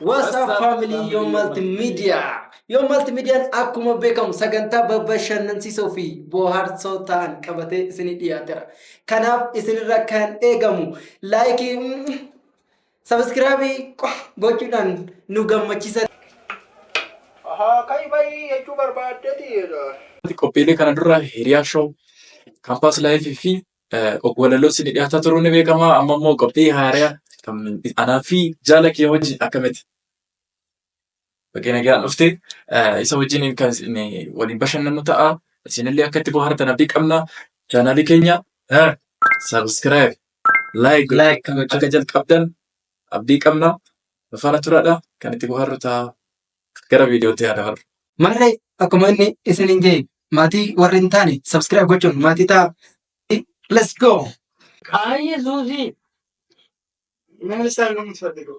What's up family Yo Multimedia? Yo Multimedian akkuma beekamu sagantaa bashannansiisoo fi bohaarsoo ta'an qabatee isinii dhiyaateera. Kanaaf isinirra kan eegamu laayikii Sabiskiraabii qofa gochuudhaan nu gammachiisa. Ahaa kai bai jechuu barbaaddeeti jedha. Qophiilee kana dura Hiriyaa Show, Campus Life fi Ogwalaloo isin dhiyaataa turuun ni beekama. Amma immoo qophii haaraa kan anaa fi jaala kee wajjin akkamitti? Baga nagaan dhufte. Isa wajjin kan isin waliin bashannannu ta'a. Isinillee akka itti bohaartan abdii qabna. Chaanaalii keenya sabiskiraayib, laayik Like. akka jalqabdan abdii qabna. Nu faana turaadha. Kan itti bohaarru ta'a. Gara viidiyootti haa dabarru. Marree akkuma inni isiniin jedhe maatii warri hin taane subscribe gochuun maatii ta'a. Let's go! Ay, Yesuusii. Nama isaan nama tuffate ga'u.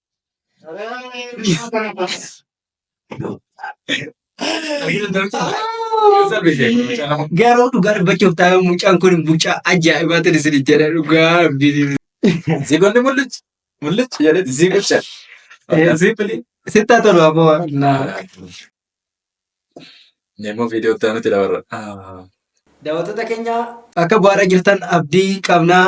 Garuu dhugaa dubbachuuf taa'ee mucaan kun mucaa ajaa'ibaa ta'e isin jedha dhugaa rabbii. Zigoonni mul'achi mul'achi jedhee zigocha. Ziipilii. Sittaa tolu aboo. Nemo video itti aanutti dabarra. Ah. Daawwattoota keenya akka bu'aara jirtan abdii qabnaa.